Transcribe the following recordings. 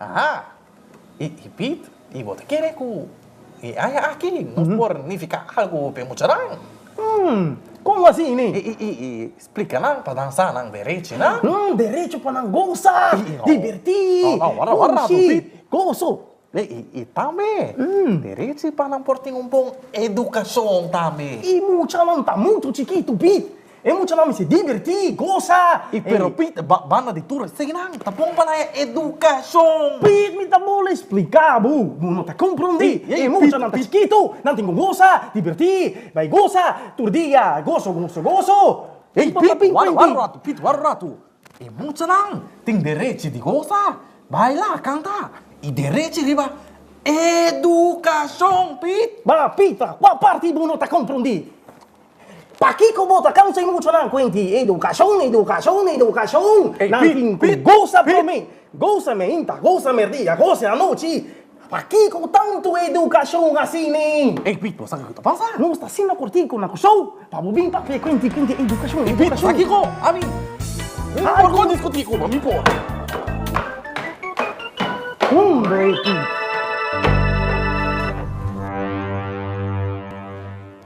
Aha! I Piet, i bo ta kere ku e aña aki nos por nifiká algu pa e muchanan? Hm, kon así, ne? I i splika nan pa nan sa nan derechi, na? Hm, derechi pa nan gosa, divertí, kunshi, goso. I tambe derechi pa nan por tin un bon edukashon tambe. E muchanan ta muchu chikitu, Piet. E muchanan mester divirtí, gosa. I pero Pit banda di tur eseinan ta bon pa nan e edukashon. Pit, mi ta bole spliká bo, bo no ta komprondí. E muchanan ta chikitu, nan tin ku gosa, divirtí, bai gosa, tur dia goso, goso, goso. Ey Pit, wara un ratu, Pit, wara un ratu. E muchanan tin derechi di gosa, baila, kanta i derechi riba edukashon, Pit. Ba Pit, pa kua parti bo no ta komprondí? Pakiko bo ta kansa i mucha nan kuenti edukashon, edukashon, edukashon? Nan tin ku gosa promé, gosa mehinta, gosa merdia, gosa anochi. Pakiko tantu edukashon asini? Ey Pit, bo sabi ku ta pasa? Nos ta asina kortiko na Kusou pa bo bin papia e kuenti kuenti edukashon, edukashon. Ey Pit, pakiko? Abi, mi por kon diskutí ku bo, mi por. Hombre Pit.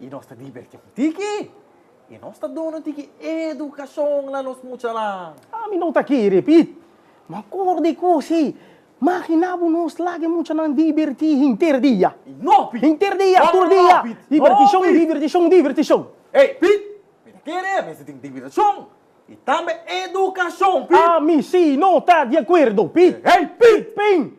I nos ta diberti ku tiki. I nos ta duna tiki edukashon na nos muchanan. Ami no ta kere, Pit. Ma kor di kos ei. Makina bo nos laga e muchanan diberti henter dia. No, Pit! Henter dia, tur dia. No, no, no, Pit! Dibertishon, dibertishon, dibertishon. Ei, Pit! Mi ta kere mester tin dibertishon i tambe edukashon, Pit! Ami si no ta di akuerdo, Pit! Ei, Pit! Pin!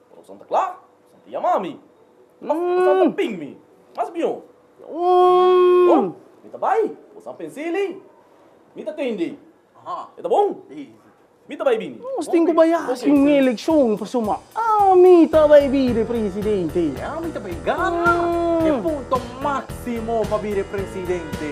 Corazon ta cla, corazon ta yama mi, corazon ta ping mi mas biu. Bon, mi ta bai, bosa pens'e lei, mi ta tende, aha, e ta bon, mi ta bai bini. Nos tin cu bai haci un eleccion pa suma, ami ta bai bira e presidente. E ami ta bai gana e punto maximo pa bira e presidente.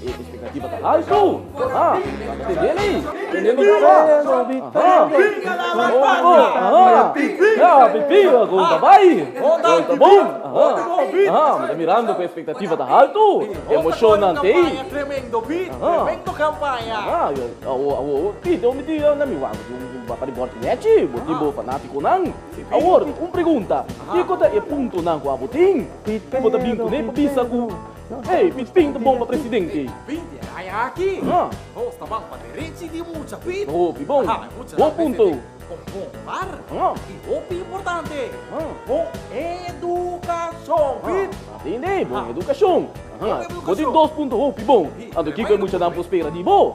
E expectativa ta alto, aha, nan ta tende lei, tende mi sa, aha, Congo, aha, ya, Pipila, gol ta bai, gol ta bon, aha, aha, mi ta mirando cu e expectativa ta alto, emocionnan ta ei, aha, aha, yo awo, awo, awo, si, den un dia nan mi wak pa di bor di mechi, bo tin bo fanaticonan, awor, un pregunta, kico ta e puntonan cu abo tin, cu bo ta bin cun'e pa bisa cu. Hey, mi pinta bon pa presidente. Oh, pibon. Bon punto. Atende, bon educacion. Bo di dos punto hopi bon. Anto kico e muchanan por spera di bo?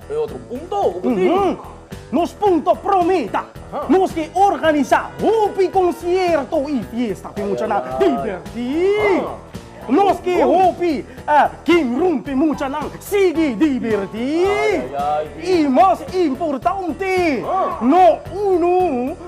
E otro punto cu bo tin? Nos punto pro me ta, Nos ke organisa hopi concierto y fiesta pe muchanan diverti. Nos ke hopi game room pe muchanan sigui diverti. Y mas importante, no uno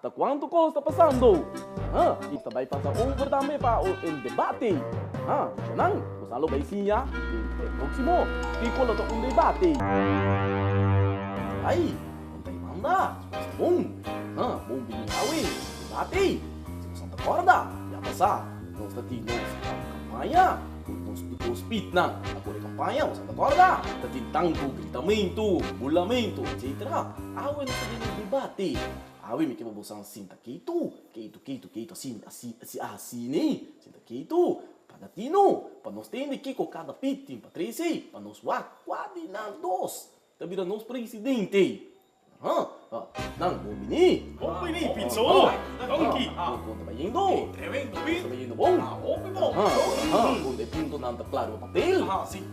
Ta cuanto cos ta pasando, ha? Y ta bay pasa over tambe pa el debate, ha? Nan, nos a lo bay siña den e proximo kico lo ta un debate. Bay, con bay manda, nos bon, ha? Bon bini awe, debate. Si nos a ta corda, ya pasa, nos ta tin nos campaña cu nos Duco Speednan a core campaña, nos a ta corda? Ta tin tanto gritamento, bulamento, etcetera. Awe nos ta den e debate. Awe mi ke bo bosan sinta keitu, keitu, keitu, keitu, asi, asi, asi, asi ni, sinta keitu, paga tinu, pa nos tende kiko kada pit tin pa trese, pa nos wak, kua di nan dos ta bira nos presidente? Aha, ha, nan bon bini, bon bini, Pitso, Donki, ha, ha, konta ta yendo, tremendo, konta ta yendo bon, ha, ha, ha, konta e punto nan ta klaro pa papel, ha, si.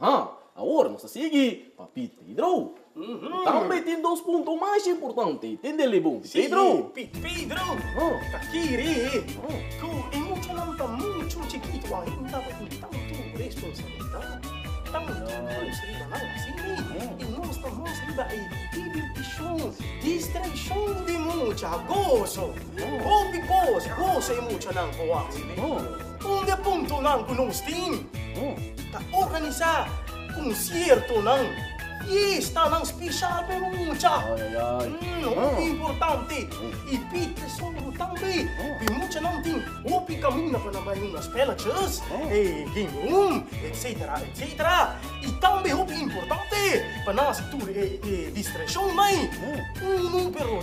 Aha, awor nos ta sigui, Papi Pedro. Bo ta bai tin dos punto mas importante, tin dele bon, Pi Pedro. Pi Pedro, ta kiri ku e muchanan ta muchu chikitu ainda pa tin tantu responsabilidat, tantu nos riba nan. Asi mi, i nos ta mas riba e divirtishon, distraishon di mucha, goso. Hopi kos, goso e muchanan por wak. Un di e puntonan ku nos tin ta organisá konsiertonan, fiestanan speshal pa e mucha. Hopi importante i pi tesoro tambe. Di muchanan tin hopi kaminda pa nan bai hunga spèlètjes, game room, etsetera, etsetera. I tambe hopi importante pa nan hasi tur e distrashonnan ei. Unu, pero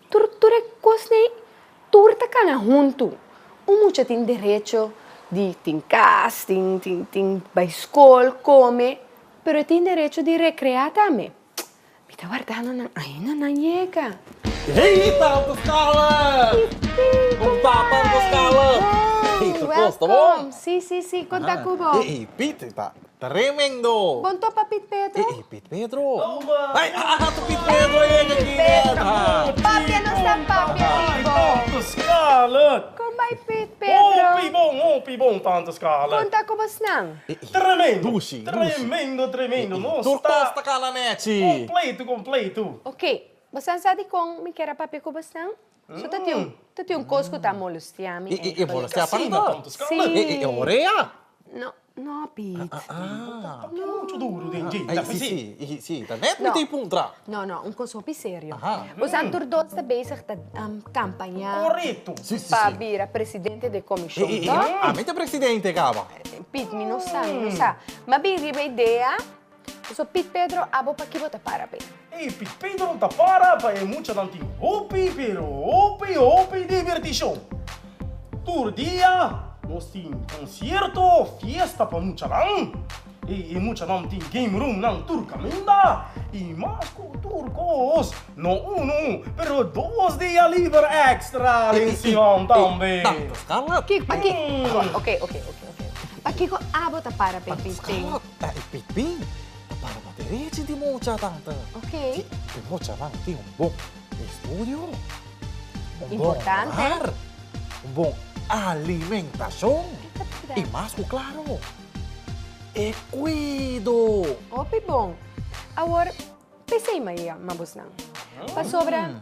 Tur, tur e kosnan ei, tur ta kana huntu. Un mucha tin derecho di tin kas, tin, tin, tin bai skol, kome, pero e tin derecho di rekreá tambe. Mi ta wardando nan ainda nan yega. Hei, Tata Skala! Kom ta, Tata Skala? Hei, ta kos, ta bon? Welkom! Si, si, si, kon ta ku bo? Ei, ei, Pieter ta. Tremendo! Bon tòp pa Piet Pedro. E e Piet Pedro. Ai a a ta Piet Pedro a yega aki nèta. Papi a no sta papi a di bo. Tante Scarlett. Kon bai Piet Pedro. Hopi bon hopi bon tante Scarlett. Kon ta ku bo snan. E e. Tremendo. Dushi dushi. Tremendo tremendo no sta. Tur kos ta kala nèchi. Kompletu kompletu. Oke bo san sa di kon mi kera papia ku bo snan? So ta tin ta tin un kos ku ta molestea mi e e molestea pa mi na tantu skala e e e ore a No no Piet Por ke muchu duru den dje ta fisi si si ta net mi ta i puntra No no un kos hopi serio Bo san tur dos ta bezig ta kampaña Korekto si si si pa bira presidente den komishon e e ami ta presidente kaba Piet mi no sa mi no sa Mabien riba idea. So Pit Pedro abo paki bo ta para pe. Ey Pit Pedro no ta para pa e muchanan tin hopi pero hopi hopi divirtishon. Tur dia nos tin concierto, fiesta pa muchanan. Ey e muchanan tin game room nan tur caminda y mas cu tur cos no uno pero dos dia liber extra den siman tambe. Paki, paki, ok ok ok ok, pakico abo ta para pe Pit Pedro. ta e pekpin. Para ta derechi di mocha tata. Ok. Si e mochanan tin un bon estudio, un bon hogar, un bon alimentacion y mas cu claro e cuido. Hopi bon. Awor, p'esey maya mabosnan. Pasobra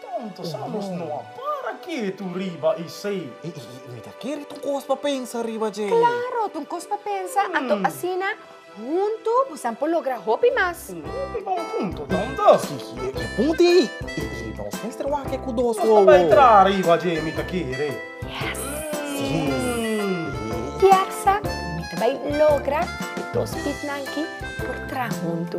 Tonto sa nos no a para ketu riba esei. Ey, ey, ey, mira ke riba, ta un kos pa pensa riba dje. Claro, ta un kos pa pensa, anto asina huntu busan por logra hopi mas. Un hopi bon punto ta un dasi. Ey, ey, e punti ey, ey, ey, nos mester wak e ku dos wowo. Nos ta bay traha riba dje mi ta kere. Yes. Ey. Kiaksa mi ta bay logra e dos pipnan ki por traha huntu.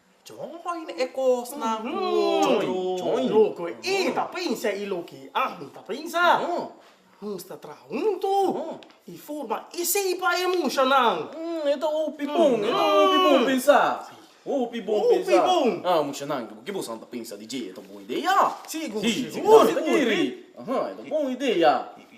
Join e kosnan ku e ta pensa i loke ami ta pensa. Nos ta traha huntu i forma esei pa e mushanan. E ta hopi bon, e ta hopi bon pensa. Hopi bon pensa. Ah, mushanan, ke boso nan ta pensa di dje? E ta bon ideia. Sigur, sigur. E ta bon ideia.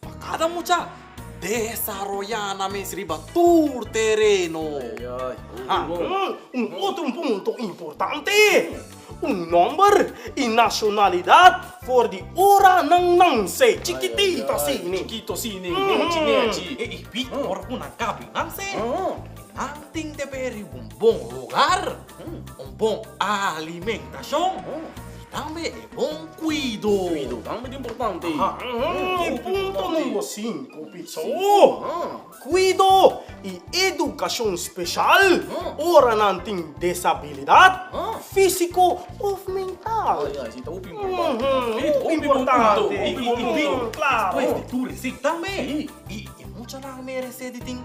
Pa kada mucha desaroyá nan mes riba tur tereno. Un otro punto importante, un nomber i nacionalidad for di ora nan nanse, chikitito asini. E i bida ora ku nan kabi nanse, nan tin debé riba un bon lugar. Un bon alimentacion y tambe e bon cuido. Cuido tambe ta importante. E punto number cinco Pizzo, cuido y educacion special ora nan tin desabilidad fisico of mental. Hopi importante y bin claro. Despues di tur resik tambe. Y e mucha nan a merece di tin.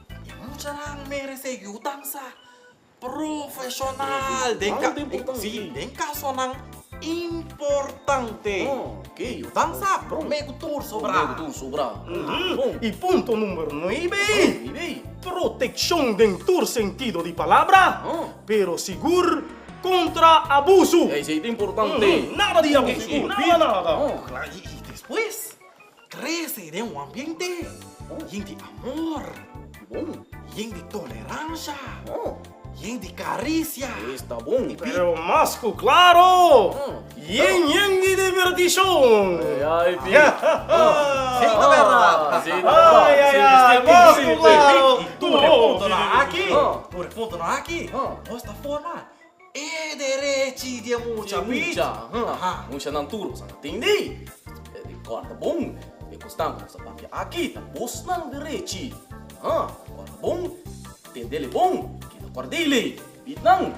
Muchanan merece yudan sa profesional den casonan importante que yudan sa prome cu tur sobra. Y punto numero nuebe, proteccion den tur sentido di palabra, pero sigur contra abuso. Nada di abuso, nada nada. Y despues? Trece den un ambiente yen di amor, yen di toleransha, yen di karicia. Pero mas ku klaro, yen yen di divirtishon. Mas ku klaro, tur e puntonan aki nos ta forma. E derechi di e mucha pichi. Mushanan tur boso a ta tindi. E di kòrda bon. E kosnan ku nos a papia aki ta bosnan derechi. Ha, kòrda bon. Tendele bon. Keda kòrdili. Bit nan.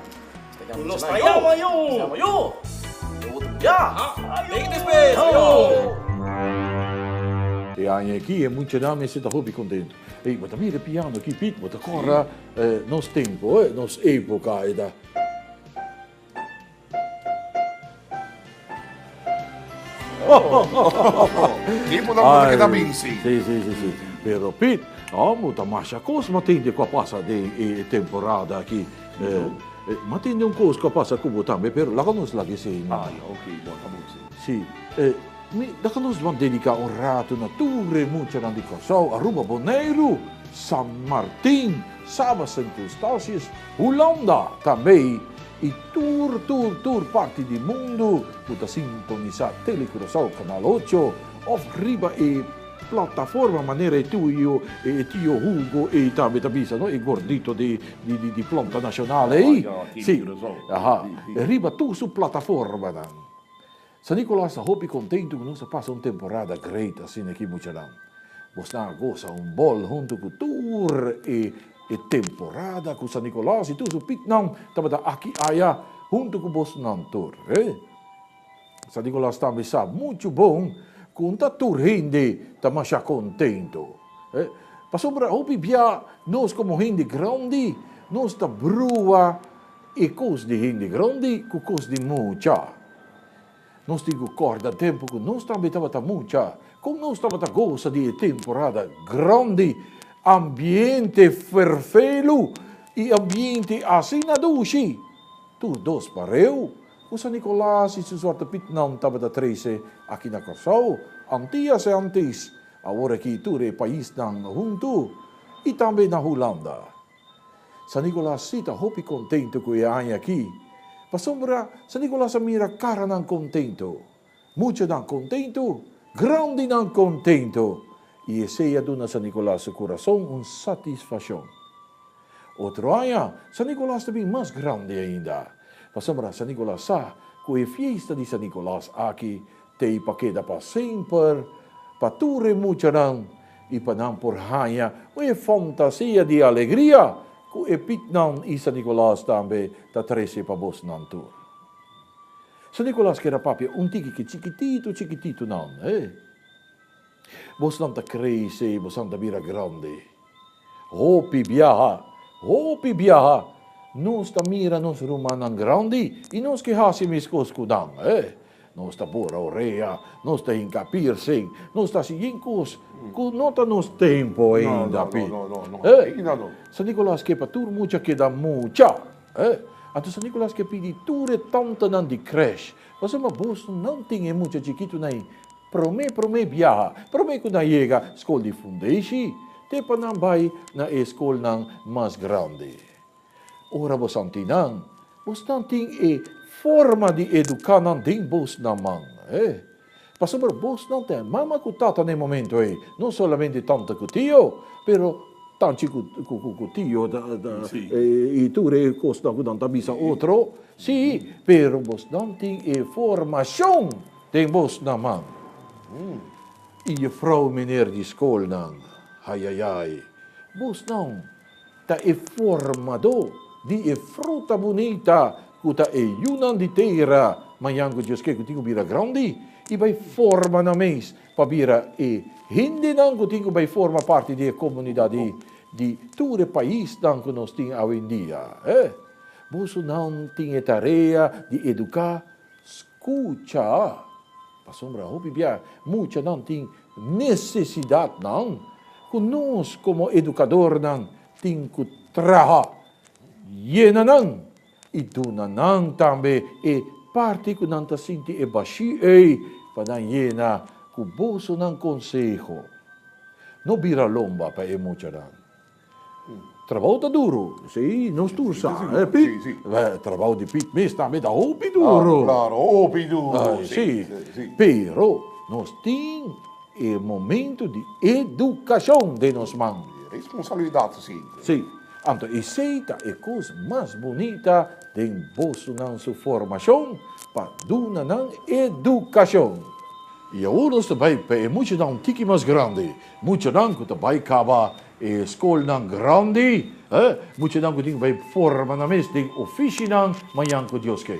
Nos ta yama mushanan yo. Nos ta yama yo. E otro bia. Take this place. Aña aki e muchanan mester ta hopi kontentu. Ey, bo ta mira e piano aki, Piet. Bo ta kòrda. E nos tempo, e nos epoca e ta. Di por dan Ay, kita binsi. Sí, sí, sí, sí. Pero Pit, oh, muta masha cos matende qua pasa de e temporada aquí. Eh, eh, matende un cos qua pasa cubo tambe, pero la nos la que se. Ah, ya, ok, bota musi. Sí, eh, mi, la nos van dedicar un rato na ture mucha nan di Curaçao, Aruba, Bonaire. San Martin, Saba Sint Eustatius, Hulanda, tambe i tur tur tur parti di mundu ku ta sintonisá Tele Curaçao Kanal Ocho òf riba e plataforma manera e tio e tio Hugo ei tambe ta bisa no e gordito di di plonta nashonal ei si aha riba tur su plataformanan. San Nicolas ta hopi contento cu nos a pasa un temporada great asina aki muchanan. Bos nan a goza un bol hunto cu tur e e temporada cu San Nicolas y tur su pitnan tabata aki aya hunto cu bos nan tur. San Nicolas tambe sa mucho bon cu nta tur hende ta masha contento. Pasobra hopi bia nos como hende grandi nos ta brua e cos di hende grandi cu cos di mucha. Nos tin ku kòrda tempu ku nos tambe tabata mucha kon nos tabata gosa di e temporada grandi ambiente ferfelu i ambiente asina dushi. Tur dos pareu ku San Nikolas i su Zwarte Pietnan tabata trese aki na Kòrsou, Antia se antis, awor aki tur e paisnan huntu, i tambe na Hulanda. San Nicolas si ta hopi contento cu e aña aki, pasobra San Nicolas a mira caranan contento, muchanan contento, grandinan contento y esey a duna San Nicolas su corazon un satisfaccion. Otro aña San Nicolas ta bin mas grandi ainda, pasobra San Nicolas sa cu e fiesta di San Nicolas aki T'ei pa keda pa semper, pa tur e muchanan i pa nan por haña un e fantasia di alegria ku e piknan i San Nikolas tambe ta trese pa bosnan tur. San Nikolas keda papia un tikiki chikititu chikititu nan. Bosnan ta crazy, bosnan ta bira grandi. Hopi biaha, hopi biaha, nos ta mira nos rumannan grandi y nos ke haci meskos cu nan. Eh, nos ta bora orea, nos ta hinca piercing, nos ta haci yin cos cu no ta nos tempo ainda, pi. Eh, San Nicolas ke pa tur mucha keda mucha. Eh, anto San Nicolas ke pidi tur e tantanan di creche, Pasaba bosnan tin e mucha chikitunan Promé promé biaha, promé ku nan yega skol di fundeishi, te pa nan bai na e skolnan mas grandi. Ora bo santi nan, bosnan tin e forma di eduká nan den bos nan man. He. Pasobra bosnan ta e mama ku tata na e momentu ei, no solamente tanta ku tio, pero tanchi ku tio i tur e kosnan ku nan ta bisa otro. Sí, pero bosnan tin e formashon. Den bos na man. I jefrou miner di skolnan, Ayayay, bos nan ta e formadó di e fruta bunita ku ta e yunan di tera. Mañan ku Dios ke ku tin ku bira grandi i bai forma nan mes pa bira e hendenan ku tin ku bai forma parti di e komunidat di tur e paisnan ku nos tin awendia. Boso nan tin e tarea di eduká. Kucha, pasobra hopi bia muchanan tin nesesidatnan ku nos komo edukadornan tin ku traha yena nan i duna nan tambe e parti ku nan ta sinti e bashí ei pa nan yena ku bosonan konseho. No bira lomba pa e muchanan. Trabao ta duro, si, nos tur sa, eh, Pit? Si, si. Trabao di Pit mes tambe ta hopi duro. Ah, claro, hopi duro, si, si. Si, si. Pero nos tin e momento di educacion den nos man. E responsabilidad su siempre. Si, anto esey ta e cos mas bunita den bosonan su formacion, pa duna nan educacion. Y awor nos ta bay pa e muchanan un tiki mas grandi. Muchanan cu ta bay caba e scolnan grandi, e muchanan cu tin bay forma nan mes den oficinan manyan cu Dios ke.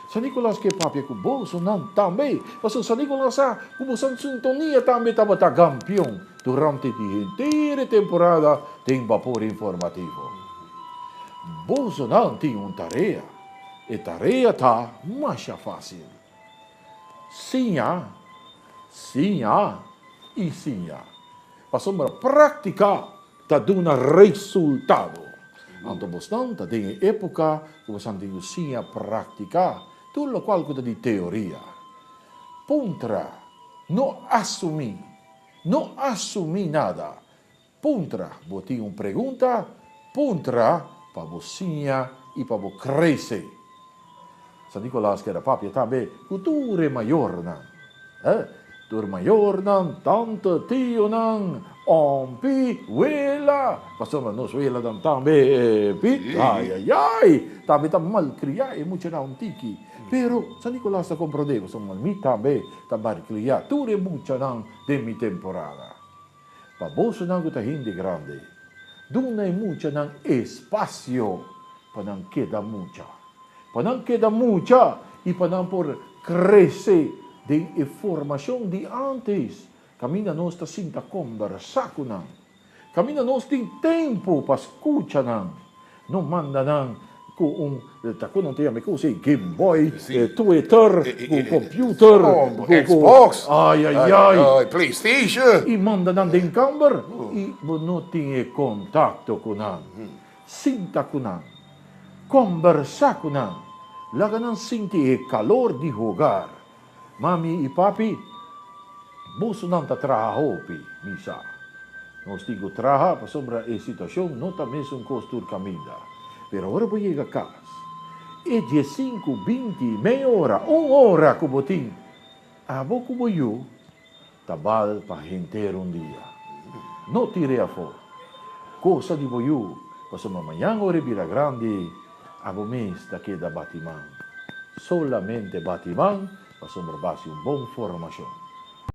San Nicolas ke papia cu bosonan tambe, pasobra San Nicolas sa cu bosonan sintonia tambe tabata gampion durante di henter e temporada den Bapor Informativo. Bosonan tin un tarea, e tarea ta masha facil. Siña, siña i siña pasobra práktika ta duna resultado. Anto bosnan ta den e épuka ku bosan tin ku siña práktika tur lokual ku ta di teoria. Puntra, No asumí, no asumí nada. Puntra, Bo tin un pregunta? Puntra pa bo siña i pa bo krese. San Nikolaas keda papia tambe ku tur e mayornan. E tur mayornan, tante, tionan, ompi, wela, pasobra nos welanan tambe e pi. Ayayay! Tambe ta malkriá e muchanan un tiki. Pero San Nikolaas ta komprondé, pasobra mi tambe ta malkriá tur e muchanan den mi temporada. Pa bosonan ku ta hende grandi, duna e muchanan espasio pa nan keda mucha, pa nan keda mucha i pa nan por krese den e formashon di ántes. Kaminda nos ta sinta kombersá ku nan, kaminda nos tin tempu pa skucha nan, No manda nan cu un ta cu nan ta yama e cosa ey game boy, twitter, cu computer, cu xbox, ay ay ay, playstation, y manda nan den camber y bo no tin e contacto cu nan, sinta cu nan, combersa cu nan, laga nan sinti e calor di hogar, Mami i papi, bosonan ta traha hopi, mi sa. Nos tin ku traha pasobra e situashon no ta mesun kos tur kaminda. Pero ora bo yega kas, e diesinku, binti, mei ora, un ora ku bo tin, abo ku bo yu, Ta bal pa henter un dia. No tire afó cosa di bo yu, pasobra ma mañan ora e bira grandi, abo mes ta keda bati man. Solamente bati man, pasobra b'hasi un bon formacion.